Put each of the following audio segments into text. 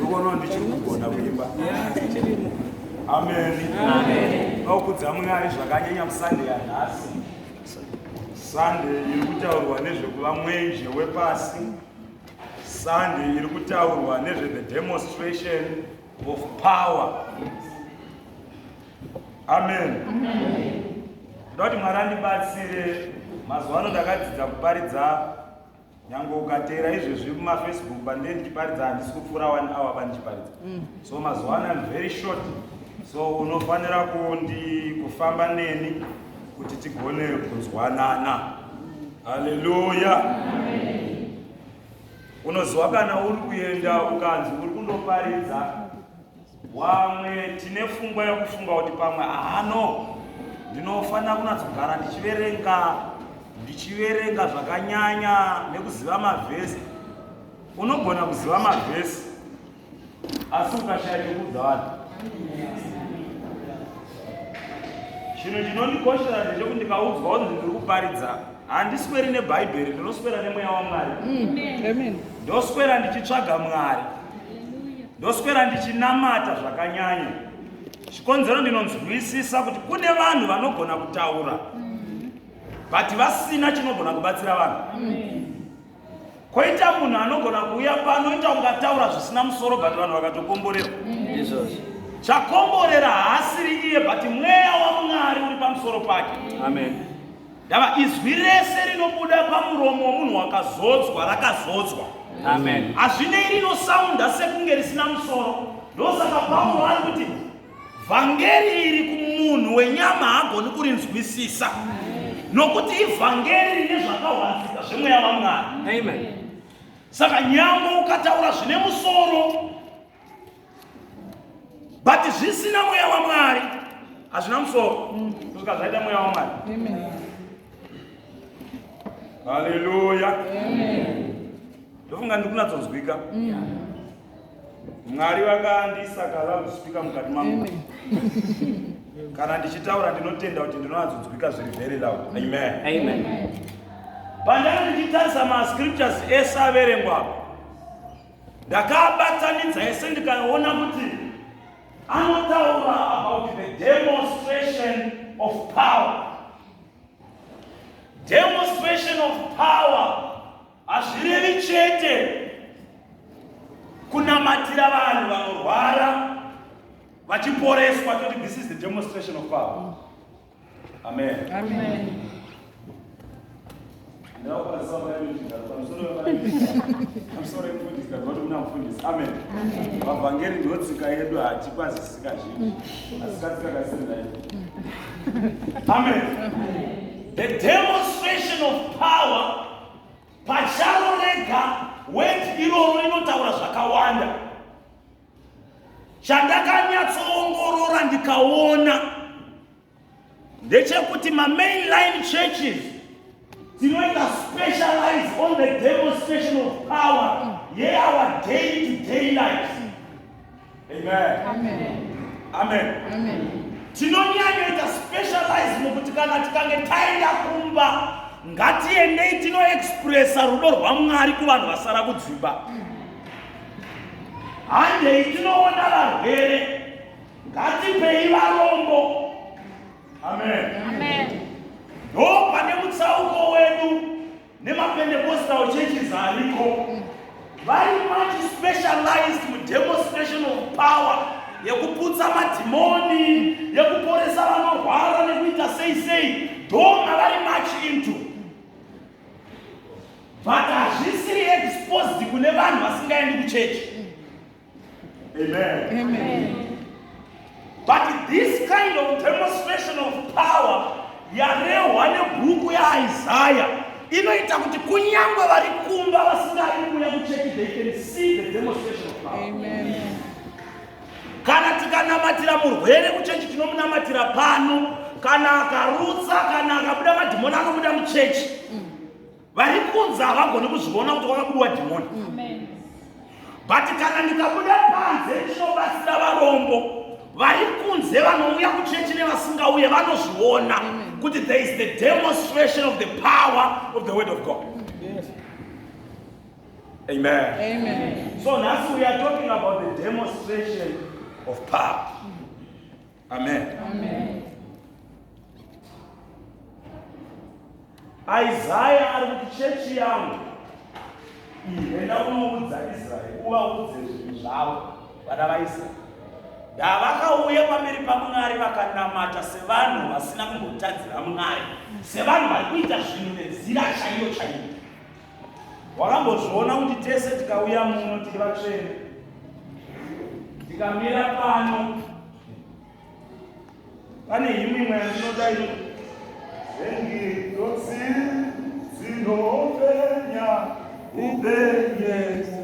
unoona ndichiri kugona kuimba ameni nokudza mwari zvakanyanya musande yanhasi sande iri kutaurwa nezvekuva mwenje wepasi sande iri kutaurwa nezve the demonstration of power amen ndoda kuti mwari andibatsire mazuva ano ndakadzidza kuparidza nyange ukateera izvezvi mumafacebook pandee ndichiparidza handisi kupfuura one hour pandichiparidza mm. so mazuva ano am very short so unofanira kundi kufamba neni kuti tigone kunzwanana haleluya unoziwa kana uri kuenda ukanzi uri kundoparidza Wamwe tine fungwa yokufunga kuti pamwe ahano ndinofanira kunatsogara ndichiverenga ndichiverenga zvakanyanya nekuziva mavhesi unogona kuziva mavhesi asi ukashaya chekuudza vanhu chinhu chinondikoshera ndechekuti ndikaudzwa kuti ndiri kuparidza handisweri nebhaibheri ndinoswera nemweya wamwari ndoswera ndichitsvaga mwari Ndoswera ndichinamata zvakanyanya. Chikonzero ndinonzwisisa kuti kune vanhu vanogona kutaura but vasina chinogona kubatsira vanhu. Koita munhu anogona kuuya pano ita ungataura zvisina musoro but vanhu vakatokomborerwa. Chakomborera haasiri iye but mweya waMwari uri pamusoro pake. Amen. Ndava izwi rese rinobuda pamuromo womunhu wakazodzwa rakazodzwa. Amen. Hazvinei rinosaunda sekunge risina musoro. Ndosaka Paulo ari kuti vhangeri iri kumunhu wenyama haagoni kurinzwisisa nokuti ivhangeri rine zvakahwanzika zvemweya wamwari. Amen. Saka nyambo ukataura zvine musoro but zvisina mweya wamwari hazvina musoro kusvika mm. zvaita mweya wamwari haleluya ndofunga ndikunatsonzwika mwari vakandisaka vakuspika mukati mangu kana ndichitaura ndinotenda kuti ndinonatsonzwika zviri very loud amen pandanga ndichitarisa mascriptures ese averengwa ndakaabatanidza yese ndikaona kuti anotaura about the demonstration of power demonstration of power hazvirevi chete kunamatira vanhu vanorwara vachiporeswa toti this is the demonstration of power Amen. Amen. vavhangeri ndotsika yedu hatikwazisika zvinhu asikatikakasirinai amen the demonstration of power pacharo rega wet iroro inotaura zvakawanda chandakanyatsoongorora ndikaona ndechekuti mamainline churches dzinoita specialize on the demonstration of power yeour day to day life amen tinonyanyoita specialize mukuti kana tikange taenda kumba ngatiendei tinoexpressa rudo rwamwari kuvanhu vasara kudzimba mm. handei tinoona varwere ngatipei varombo amen ndo pane mutsauko wedu nemapendecostal churches ariko very much specialized mudemonstration of power yekuputsa madhimoni yekuporesa vanorwara nekuita sei sei ndo mavari much into but hazvisiri exposed kune vanhu vasingaendi kuchechi amen, amen. but this kind of demonstration of power yarehwa nebhuku yaisaya inoita kuti kunyange vari kumba vasingari kuuya kuchechi they can see the demonstration of power amen. kana tikanamatira murwere kuchechi tinomunamatira pano kana akarutsa kana akabuda madhimoni anobuda muchechi mm. vari kunze havagoni kuzviona kuti wakabudiwa dhimoni but kana ndikabuda panze ndinobatsira varombo vari kunze vanouya kuchechi nevasingauye vanozviona kuti there is the demonstration of the power of the word of god amen, amen. so nhasi we are talking about the demonstration of power Amen. Amen. Isaiah ari kuti chechi yangu ihenda kunoudza Israeri uvaudze zvinhu zvavo vana vaIsraeri ndavakauya pamberi paMwari vakanamata sevanhu vasina kumbotadzira Mwari sevanhu vari kuita zvinhu nenzira chaiyo chaiyo Wakambozviona kuti tese tikauya muno tiri vatsvene, tikamira pano, pane himwe imwe yandinoda ino engirosi dzinopenya upenyeso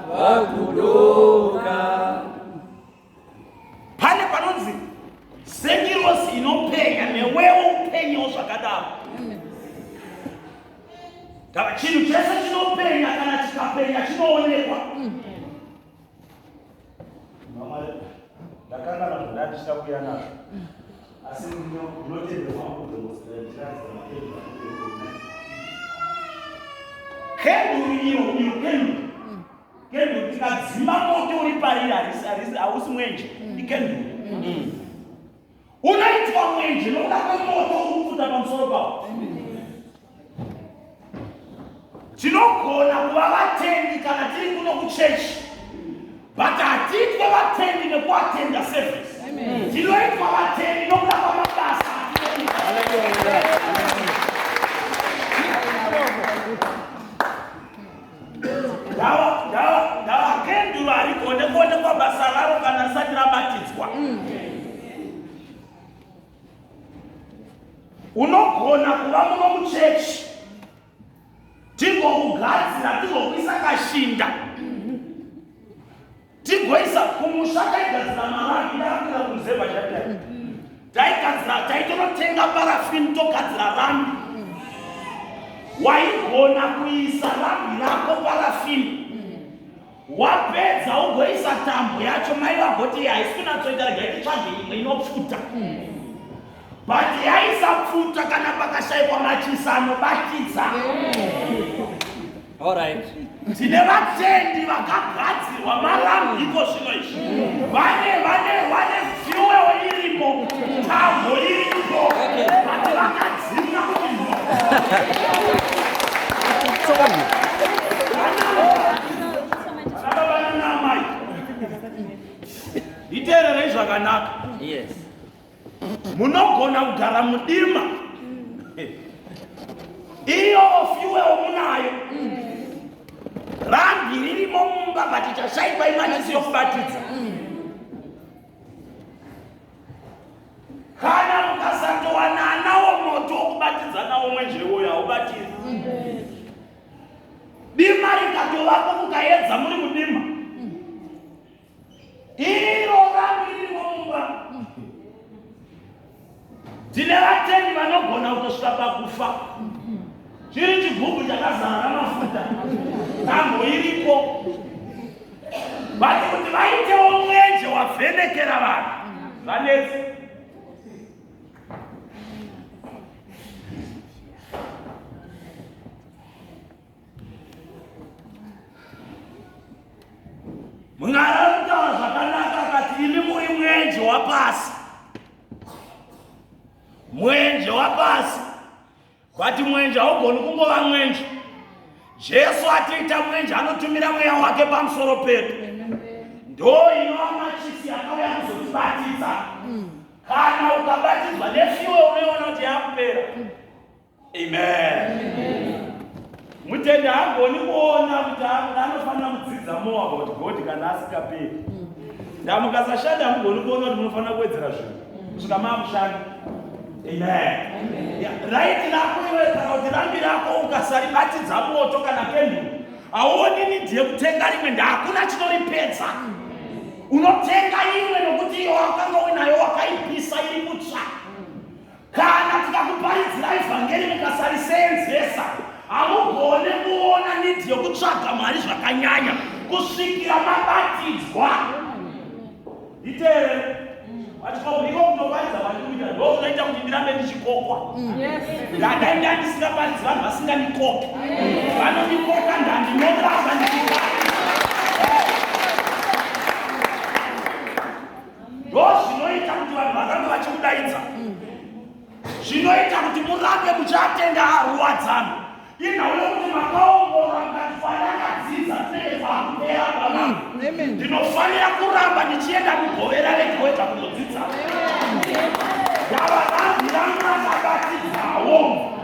vakudoka. Pane panonzi sengirosi inopenya newewo upenyewo zvakadaro. Kana chinhu chese chinopenya kana chikapenya chinoonekwa. Mm. ndakanganwa zvandatya kuya nazvo asi ndinotenderwa kenduru tikadzima moto uri pariri hausi mwenje ikenduru unoitwa mwenje nokuda kwemoto urikufuta pamusoro pavo tinogona kuva vatendi kana tiri kuno kuchechi but hatiitwe vatendi nekuatenda service tinoitwa vatendi nokuda kwamabasa Hallelujah. ndavakenduru harigone kuonekwa basa raro kana risati rabatidzwa unogona kuva muno muchechi tingokugadzira tingokuisa kashinda tigoisa kumusha taigadzira marangi ndaakira kunzemba chatai taigadzira taitonotenga parafini togadzira rambi waigona kuisa rambi rako parafini wapedza ugoisa tambo yacho mai vagoti haisi kunatsoita rega ititsvage imwe inopfuta but yaisapfuta kana pakashaikwa machisa anobatidza yeah. Alright. Tine vatendi vakagadzirwa malam iko zvino izvi. Vane vane vane fuel irimo. Tambo irimo. Vati vakadzima kuno. Itererei zvakanaka. Yes. munogona kugara mudima iyo fuel munayo rambi ririmo mumba but chashaipa imatisi yokubatidza kana mukasatowananawo moto wokubatidza nawo mwenjewoyo haubatiri dima rikatovapo kukaedza muri mudima iro vanhu ririmo mumba tine vatendi vanogona kutosvika pakufa chiri chigubhu chakazara mafuta tambo iripo vati kuti vaitewo mwenje wavhenekera vanhu vanetsi Mwari anotava zvakanaka akati imi muri mwenje wapasi mwenje wapasi but mwenje haugoni kungova mwenje jesu atiita mwenje anotumira mweya wake pamusoro pedu ndo inova machisi yakauya kuzotibatidza kana ukabatidzwa nefiwe unoona kuti yakupera Amen. Mutende haagoni kuona kuti anofanira kudzidza more about God kana asikaperi. Ndaa mukasashanda hamugoni kuona kuti munofanira kuwedzera zvinhu kusvika maakushanda. Amen. Right rako iwe kana kuti rambi rako ukasaribatidza moto kana kenduru hauoni nidhi yekutenga rimwe ndahakuna chinoripedza. Unotenga imwe nokuti iyo wakanga uinayo wakaipisa iri kutsva. Kana tikakuparidzirai vhangeri mukasariseenzesa, hamugone kuona nidhi yokutsvaga Mwari zvakanyanya kusvikira mabatidzwa. Iteere vachikomuiko kunoparidza vanhu kuita ndo kunoita kuti ndirambe ndichikokwa ndadai ndandisingaparidzi vanhu vasingandikoki vanondikoka ndandinoraza ndichikokwa ndozvinoita kuti vanhu varambe vachikudaidza mm. zvinoita kuti murambe muchiatenga aruwadzano inhauyo kuti makaongorora mukatifanakadzidza tinenge pakupera pana mm. ndinofanira kuramba ndichienda kugovera regoeta kunodzidza yavarambi ranga akabatidzawo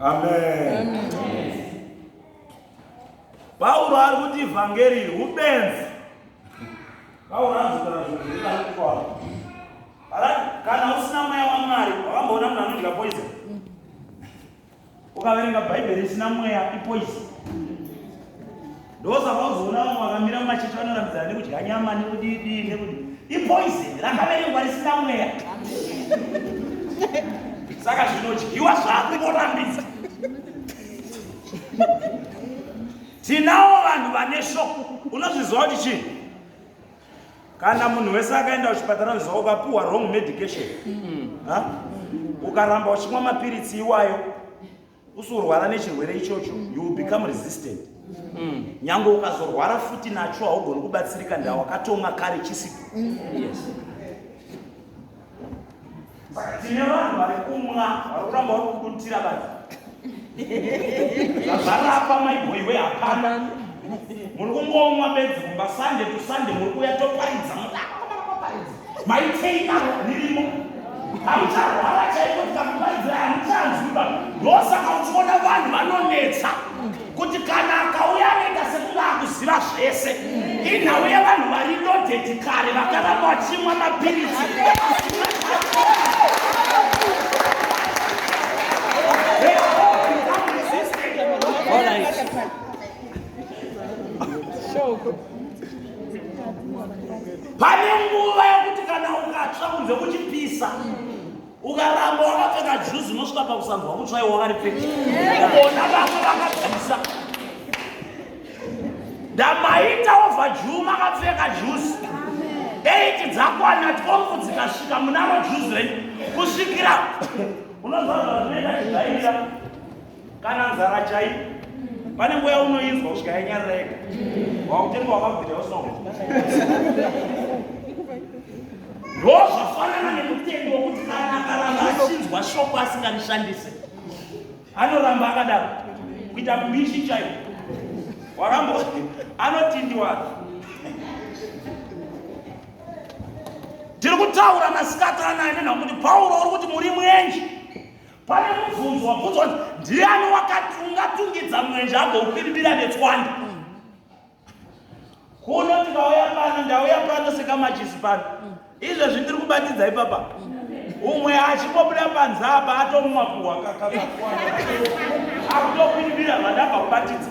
amen pauro ari kuti ivhangeri iri ubenzi pauro anozotara zvinhu zvirikukwaa kana usina mweya wamwari wakamboona munhu anodya poison ukaverenga bhaibheri isina mweya ipoison ndosaka uzoona vamwe vakamira mumachechi vanorambidzana nekudya nyama nekudidii nekuti ipoison rakaverengwa risina mweya saka zvinodyiwa zvako vorambidza tinawo vanhu vane shoko unozviziva kuti chii kana munhu wese akaenda kuchipatara unoziva ukapuhwa wrong medication ukaramba uchimwa mapiritsi iwayo usorwara nechirwere ichocho you will become resistant mm. nyange ukazorwara futi nacho haugoni kubatsirika ndawakatomwa kare chisipo yes. tine vanhu vari kumwa vari kuramba vari kudutira bati zvarapa maiboiwe hapana muri kungomwa bedzi kumba sande tusande muri kuya toparidza mudako maitei navo ndirimo haucharwara chaiko tikakubaidzira hamuchanzwiba ndosaka uchiona vanhu vanonetsa kuti kana akauya anoita sekunge akuziva zvese inhau yevanhu vari lodedi kare vakaramba vachimwa mapiritsi Show. pane nguva yokuti kana ukatsva kunze kuchipisa ukaramba wakapfeka juzi unosvika pakusanzwa kutsvaiwa wakaripfeka ona vamwe vakapisa ndamaita ova juu makapfeka juzi eiti dzakwana twongu dzikasvika munaro juzi renyu kusvikira unozvazvazvinoita chidaira kana nzara chai pane nguva yaunoinzwa kusvika yanyararega wakutenga wakabvira usoko ndozvafanana nemutendi wokuti kana akaramba achinzwa shoko asinganishandise anoramba akadaro kuita mbishi chaiyo warambo anotindiwa tiri kutaura masikati anaya nenhakuti pauro uri kuti muri mwenje pane mubvunzo wabvunzwa kuti ndiani ungatungidza mwenje agoukwirimira netswanda kuno tikauya pano ndauya pano sekamachisi pano izvezvi ndiri kubatidza ipapa umwe achingobuda panze apa atomumakuhwa kakakakwana akutokwiribira vandabva kubatidza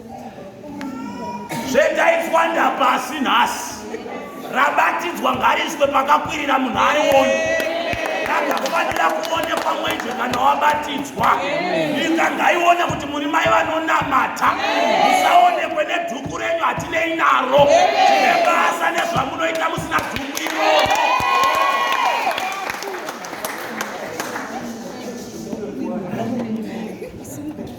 zvendainzwa ndapasi nhasi rabatidzwa ngariswe pakakwirira munhu ari woni rakafanira kuonekwa mwenje kana wabatidzwa inga ngaione kuti muri mai vanonamata musaonekwe nedhuku renyu hatinei naro tine basa nezvamunoita musina dhuku iroro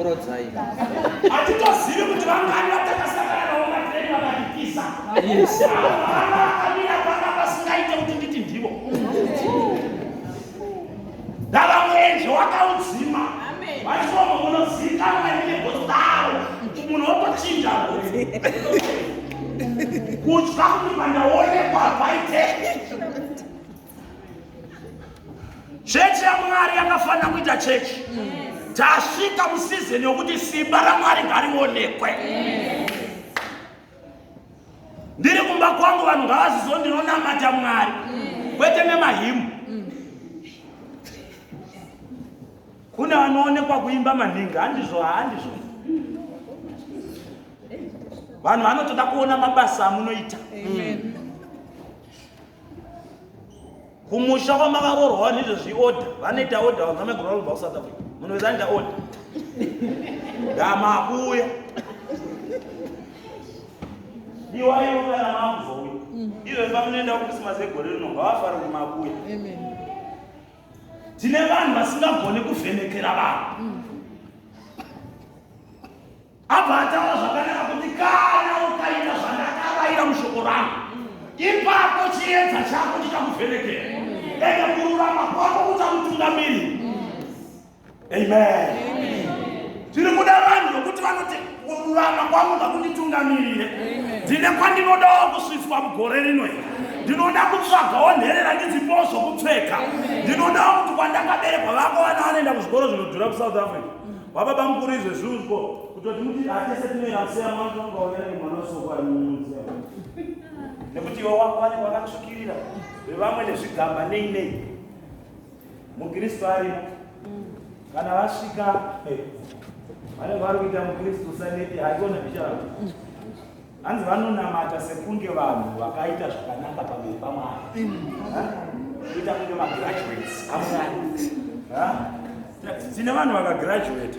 Orodzai. Hatitozivi kuti vangani vatakasangana navo matireni vakadikisa. Yes. Vakamira panga pasingaite kuti nditi ndivo. Ndava mwenje wakaudzima. Vachiomo munozikanwa negodzaro. Munhu wotochinja kuti. Kutya kuti pandaonekwa paite. chechi yamwari yakafanira kuita chechi tasvika musizini yokuti simba ramwari ngarionekwe ndiri kumba kwangu vanhu ngavazizo ndinonamata mwari kwete nemahimu kune vanoonekwa kuimba maningi handizvo handizvo vanhu vanotoda kuona mabasa amunoita kumusha kwamakaroorwa vanhu izvezvi order vanoita order vanhu vamegora vanobva kusouth africa munhu wese anoita order ndamakuuya iwaiuana makuzouya mm. izvezvi vanoenda kukrisimasi egore rino ngavafare kuti makuuya tine vanhu vasingagone kuvhenekera vanhu mm. Abva ataura zvakanaka kuti kana ukaita zvandakavaira mushoko rangu ipapo chiedza chako chichakuvhenekera ende kururama kwako kuchakutungamiri amen tiri kuda vanhu vokuti vanoti kururama kwangu ngakunditungamirire ndine kwandinodawo kusvitswa mugore rino here ndinoda kutsvagawo nherera ndidzipowo zvokupfeka ndinodawo kuti kwandakaberekwa vako vana vanoenda kuzvikoro zvinodhura kusouth africa Wababa mukuru izvo zvunzvo kutoti muti atese tinoera museya mwangu wanga waera nemwana wesoko ari mumuseya nekuti iwe wako wane wakatsvukirira vevamwe nezvigamba nei nei mukristu arimo kana vasvika vanenge vari kuita mukristu usanete haikona bicharao Hanzi vanonamata sekunge vanhu vakaita zvakanaka pamberi paMwari. Kuita kunge magraduates amwari. tine vanhu vakagraduata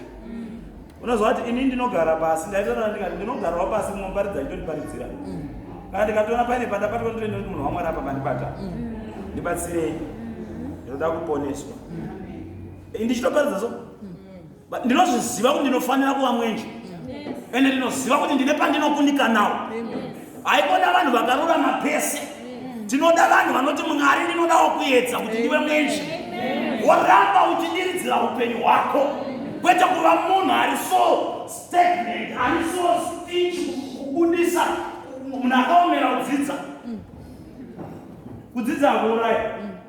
unoziva kuti ini ndinogara pasi ndaitaura ndikati ndinogarawo pasi munoparidza nditondiparidzira mm. kana ndikatoona paine pandabatwa nditoenda kuti munhu wamwari apa mandibata mm. ndibatsirei ndinoda kuponeswa mm. ndichitoparidza so ndinozviziva kuti ndinofanira kuva mwenje ende ndinoziva kuti ndine pandinokundikanawo haikona vanhu vakarurama pese tinoda vanhu vanoti mwari ndinodawo kuedza kuti ndive mwenje woramba uchidiridzira upenyu hwako kwete kuva munhu ari so stagnant ari so stich kubudisa munhu akaomera kudzidza kudzidza akuuraya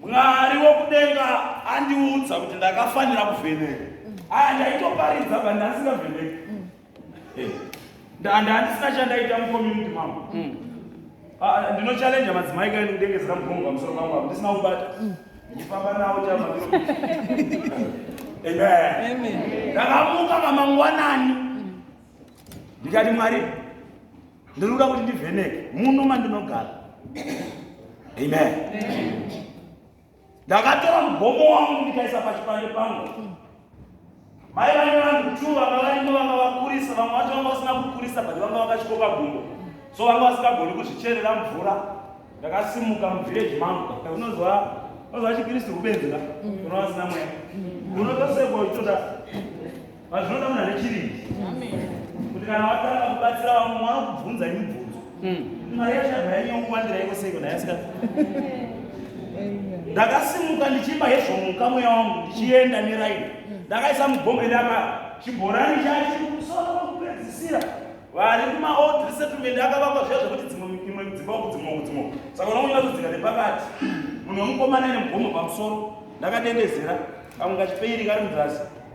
Mwari wokudenga andiudza kuti ndakafanira kuvheneka. Aya ndaitoparidza but ndasingavheneki. Eh, Ndanda handisina chandaita mucommunity mangu. Ah, Ndino challenge madzimai kaini kudengezera mugongo pamusoro pangu apo ndisina kubata. Ndifamba nawo chama. Amen. Ndakamuka mamangwanani. Ndikati Mwari ndinoda kuti ndivheneke muno mandinogara amen ndakatora mugomo wangu ndikaisa pachipande pangu mai vane vanhu two vanga varimo vanga vakurisa vamwe vacho vanga vasina kukurisa but vanga vakachikoka gumbo so vanga vasingagoni kuzvicherera mvura ndakasimuka muvhireji mangu unozwa unozwa chikristu kubenzera unova asina mweya unotosekwa uchitoda Vazvinoda munhu ane chirindi. Kuti kana watanga kubatsira vamwe mwana kubvunza imibvunzo. Hmm. Mari yacho yabva yanyongwandira iko seiko naye asika. Ndakasimuka ndichimba hezvo muka mweya wangu ndichienda neraini. Ndakaisa mugombe ndaka chibhorani chacho kumusoro kwekupedzisira vari kumaold resettlement akavakwa zviya zvekuti dzimwe imwe dzimba uku dzimwe uku dzimwe saka unokunyira kudzika nepakati munhu wemukomana ine mugomo pamusoro ndakadendezera kamwe kachipeiri kari muzasi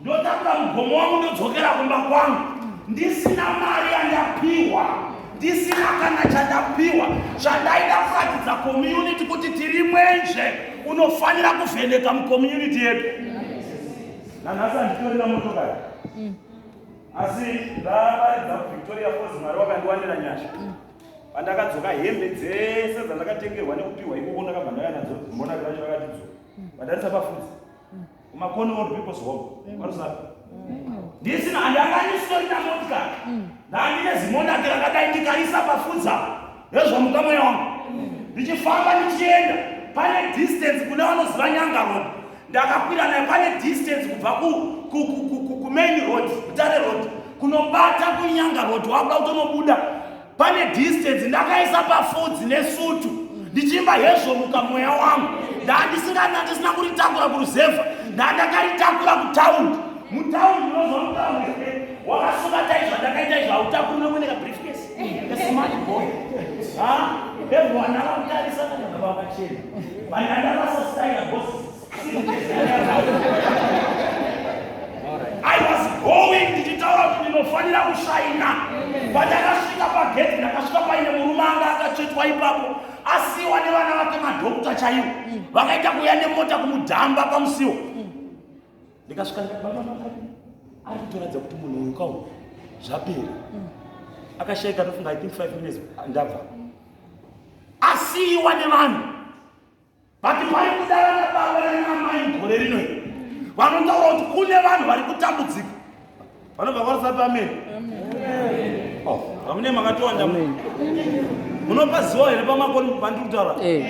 ndotakura mugomo wangu ndodzokera kumba kwangu ndisina mari yandapiwa ndisina kana chandapiwa zvandaida kuratidza community kuti tiri mwenje unofanira kuvheneka mucommunity yedu nanhasi anditorina motokari mm. asi ndavaridza kuvictoria fos mwari wakandiwanira nyasha mm. pandakadzoka hembe dzese dzandakatengerwa nekupiwa ikoko ndakabva ndaya nadzo mbonakiracho vakatidzoka mm. vadarisa pafudzi kumakoni old people's home kwarusapi ndisina handi anga andisitori namotika ndandine zimondake rakadai ndikaisa pafudza hezvamuka mweya wangu ndichifamba ndichienda pane distance kune vanoziva nyanga road ndakakwira naye pane distance kubva kumain road kutare road kunobata kunyanga road wakuda kutonobuda pane distance ndakaisa pafudzi nesutu ndichiimba hezvo muka mweya wangu ndaandisingana ndisina kuritakura kuruzevha ndaandakaritakura kutaundi mutaundi unozomutauri wakasungata izvo andakaita izvo hautakuri nokuoneka briefcase smart boy ha everyone akakutarisa kana vakachena vanandavasasitaira bosi I was going ndichitaura kuti ndinofanira kushaina pandakasvika pagedhi ndakasvika paine murume anga akatsvetwa ipapo asiwa nevana vake madhokuta chaivo vakaita kuuya nemota kumudhamba pamusiwo ndikasvika ari kutoratidza kuti munhu uyu kawo zvapera akashaika tofunga i think five minutes ndabva asiwa nevanhu vati vari kudara nababa nanamai mugore rino iri vanotaura kuti kune vanhu vari kutambudzika vanobva kwarisa pamene oh, amune makatowanda munopaziwa here pamakoni pandiri kutaura eh.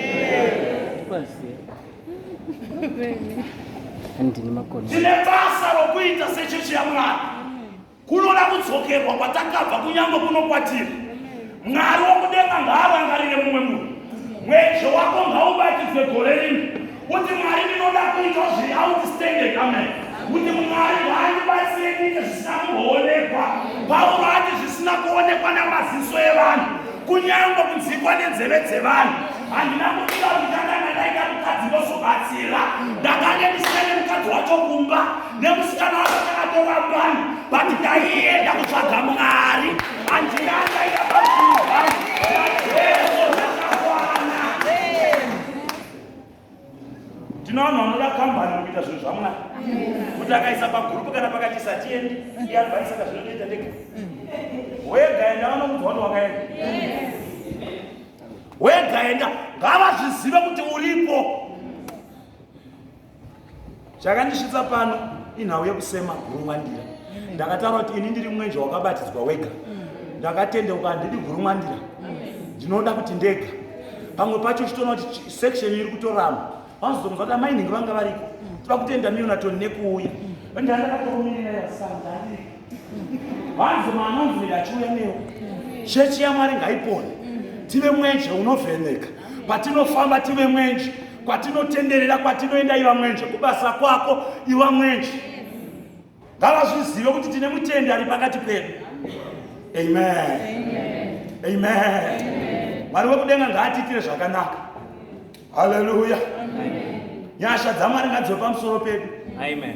tine basa rokuita sechechi yamwari Kunoda kudzokerwa kwatakabva kunyange kuno kwatiri. Mwari wokudenga ngaarangarire mumwe munhu. Mwejo wako ngaubatidzwe gore rino. Kuti Mwari ndinoda kuita zviri outstanding. Amen. Kuti Mwari ngaandibatsire kuita zvisina kumboonekwa. Pauro ati zvisina kuonekwa namaziso evanhu. Kunyange kunzikwa nenzeve dzevanhu. Handina kuita kuti ndakanga ndaita mukadzi ndozobatsira. Ndakange ndisina nemukadzi wacho kumba. nemusikana wako chakatorwa mbani but ndaienda kutsvaga mwari andirangaia tino vanhu vanoda kambani kuita zvinhu zvamwari kuti akaisa pagurupu kana pakati satiendi iadvaisaka zvinotoita ndega wegaenda vanomudzwa kuti wakaenda wegaenda ngavazvizive kuti uripo chakandisvitsa pano inhau yekusema gurumwandira ndakataura kuti ini ndiri mwenje wakabatidzwa wega ndakatendeuka handidi gurumwandira ndinoda kuti ndega pamwe pacho chitoona kuti section iri kutorama vanozotongonzwa kuti amainhingi vanga variko toda kutenda miyonatoni nekuuya ndandakatomirira yasanga ariko Vanzi manonzi ndachiuya newe. Chechi yaMwari ngaipone. Tive mwenje unovheneka. Patinofamba tive mwenje. Kwatinotenderera kwatinoenda iva mwenje. Kubasa kwako iva mwenje. Ngavazvizive kuti tine mutendi ari pakati pedu. Amen. Amen. Mwari wekudenga ngaatiitire zvakanaka. Hallelujah. Nyasha dzaMwari ngadzive pamusoro pedu. Amen.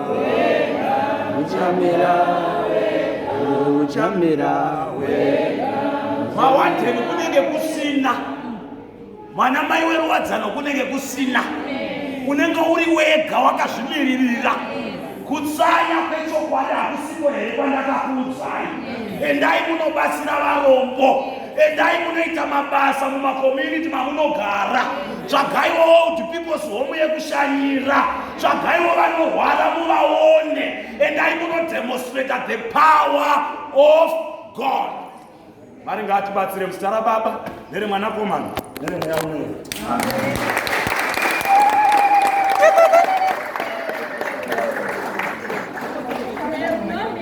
uchamera uchamera mawandeni kunenge kusina mwana mai weruwadzano kunenge kusina unenge uri wega wakazvimiririra kutsanya kwechokwadi hakusiko here kwandakakuudzai endai munobatsira varombo endai munoita mabasa mumakomuniti mamunogara tsvagaiwo old peoples home yekushanyira tsvagaiwo vanorwara muvaone endai munodemonstrata the power of god mari ngaatibatsire muzita rababa neremwanakomana neremweya umwene